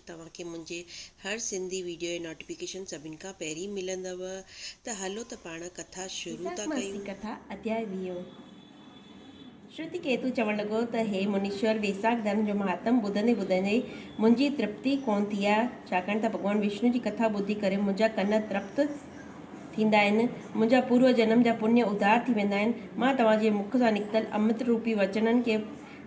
توهان کي منهنجي هر سنڌي ويڊيو جي نوٽيفڪيشن سڀن کان پهرين ملندو ته هلو ته پاڻ ڪٿا شروع ٿا ڪيون. ويساک ماس جي ڪٿا اڌياء ويهون شروتي ڪيتو چوڻ لڳو ته هي منيشور ويساک ڌرم جو مهاتم ٻڌندي ٻڌندي منهنجي ترپتي ڪونه ٿي آهي ڇاڪاڻ ته ڀڳوان وشنو جي ڪٿا ٻڌي ڪري منهنجا ڪن ترپت ٿيندا آهن منهنجا پورو جنم جا پڃ اڌار ٿي ويندا آهن مان توهان جي مک سان نڪتل امرت روپي وچنن کي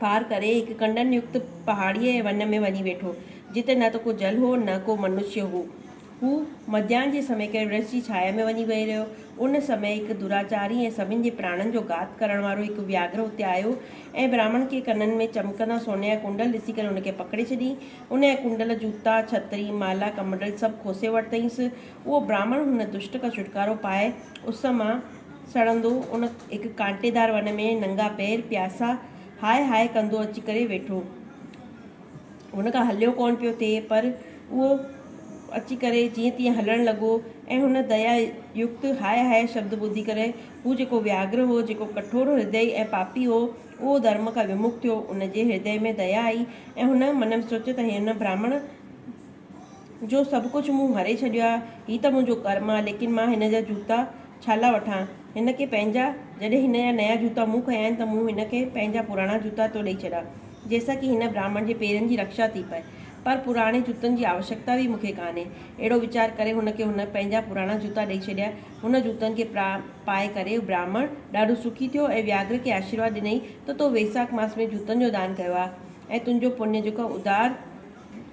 پار ڪري هڪ ڪنڊن يڪت پهاڙيء ۽ ون ۾ وڃي ويٺو، جتي نه ته ڪو جل هو نه ڪو منشيه هو. هو مڌيان جي سمي ڪنهن ورڇ جي ڇايا ۾ وڃي ويهي رهيو. ان سمي هڪ دراچاري ۽ سڀن جي پراڻن جو گهات ڪرڻ وارو هڪ وياگهر اتي آيو ۽ براهمڻ کي ڪنن ۾ چمڪندا سوني جا ڪنڊل ڏسي ڪري ان کي پڪڙي ڇڏيائين. ان جا ڪنڊل، جوتا، ڇتري، مالا، ڪمنڊل سڀ کوسي ورتائينس. اهو براهمڻ هن دشٽ کان ڇوٽڪارو پائي اس مان. سڙندو ان هڪ ڪانٽيدار ون ۾ ننگا پير پياسا هاء هاء ڪندو اچي ڪري ويٺو. هن کان هليو ڪونه پيو ٿئي پر اهو اچي ڪري جيئن تيئن هلڻ لڳو ۽ هن ديا يڪت هاء هاء شبد ٻڌي ڪري هو جيڪو وياگرهه هو، جيڪو ڪٺور هردئي ۽ پاپي هو، اهو ڌرم کان ومک ٿيو. ان جي هردئي ۾ ديا آئي ۽ هن من ۾ سوچيو ته هن برهمڻ. جو سڀ ڪجهه مون هري ڇڏيو آ، هي ته منهنجو ڪرم آ، ليڪن مان هن جا جوتا ڇالاء وٺان؟ هن کي پنهنجا، جڏهن هن جا نيا جوتا مون کنيا آهن ته مون هن کي پنهنجا پراڻا جوتا ٿو ڏئي ڇڏيان، جنهن سان ڪي هن براهمڻ جي پيرن جي رڪشا ٿي پئي. پر پراڻي جوتن جي آوشڪتا به مون کي ڪانهي. اهڙو ويچار ڪري هن کي هن پنهنجا پراڻا جوتا ڏئي ڇڏيا. هن جوتن کي پائي ڪري هو براهمڻ ڏاڍو سکي ٿيو ۽ وياگرهه کي آشيرواد ڏنئي ته تو ويساک ماس ۾ جوتن جو دان ڪيو آ ۽ تنهنجو پڃ جيڪو ادار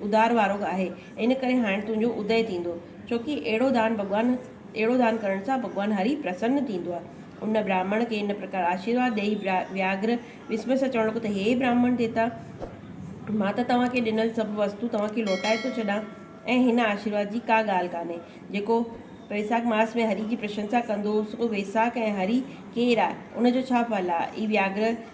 ادار وارو آهي، ان ڪري هاڻ تنهنجو ادئي ٿيندو، ڇوڪي اهڙو دان ڀڳوان اهڙو دان ڪرڻ سان ڀڳوان هري پرسن ٿيندو آهي. ان برهمڻ کي ان پرڪار آشيرواد ڏيئي وياگرهه وسميء سان چوڻ لڳو ته هي برهمڻ ديتا! مان ته توهان کي ڏنل سڀ وستون توهان کي لوٽائي ٿو ڇڏان ۽ هن آشيرواد جي ڪا ڳالهه ڪانهي. جيڪو ويساک ماس ۾ هري جي پرشنسا ڪندو هو، سو ويساک ۽ هري ڪير آهي؟ ان جو ڇا ڦل آهي؟ اي وياگرهه!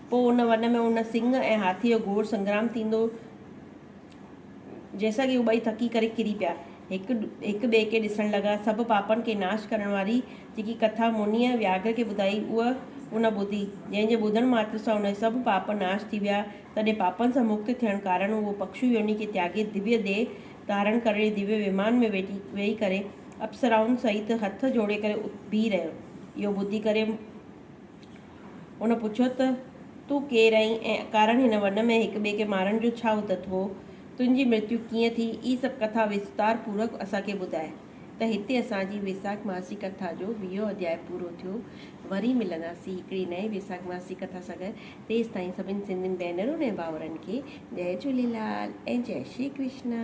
پوء ان وڻ ۾ ان سنگهه ۽ هاٿيء جو گهور سنگرام ٿيندو جنهن سان ڪي هو ٻئي ٿڪي ڪري ڪري پيا. هڪ هڪ ٻئي کي ڏسڻ لڳا. سڀ پاپن کي ناش ڪرڻ واري جيڪي ڪٿا مونيء وياگهر کي ٻڌائي اهو ان ٻڌي، جنهن جي ٻڌڻ ماتر سان هن جا سڀ پاپ ناش ٿي ويا. تڏهن پاپن سان مڪت ٿيڻ ڪارڻ اهو پکشو يوني کي تياڳي ديويه ديهه ڌارڻ ڪري ديويه ومان ۾ ويٺي ويهي ڪري اپسرائن سهيت هٿ جوڙي ڪري بيهي رهيو. اهو ٻڌي ڪري هن پڇيو ته، تون ڪير آهين ۽ اڪارڻ هن ون ۾ هڪ ٻئي کي مارڻ جو ڇا اتت هو؟ تنهنجي مرتيو ڪيئن ٿي؟ اي سڀ ڪٿا وستار پورڪ اسان کي ٻڌاء. ته هتي اسان جي ويساک ماسي ڪٿا جو ويهون اڌياء پورو ٿيو. وري ملنداسين هڪڙي نئين ويساک ماسي ڪٿا سان گڏ. تيستائين سڀني سنڌين ڀينرن ۽ ڀائرن کي جئي جهوليلال ۽ جئي شري ڪرشنا.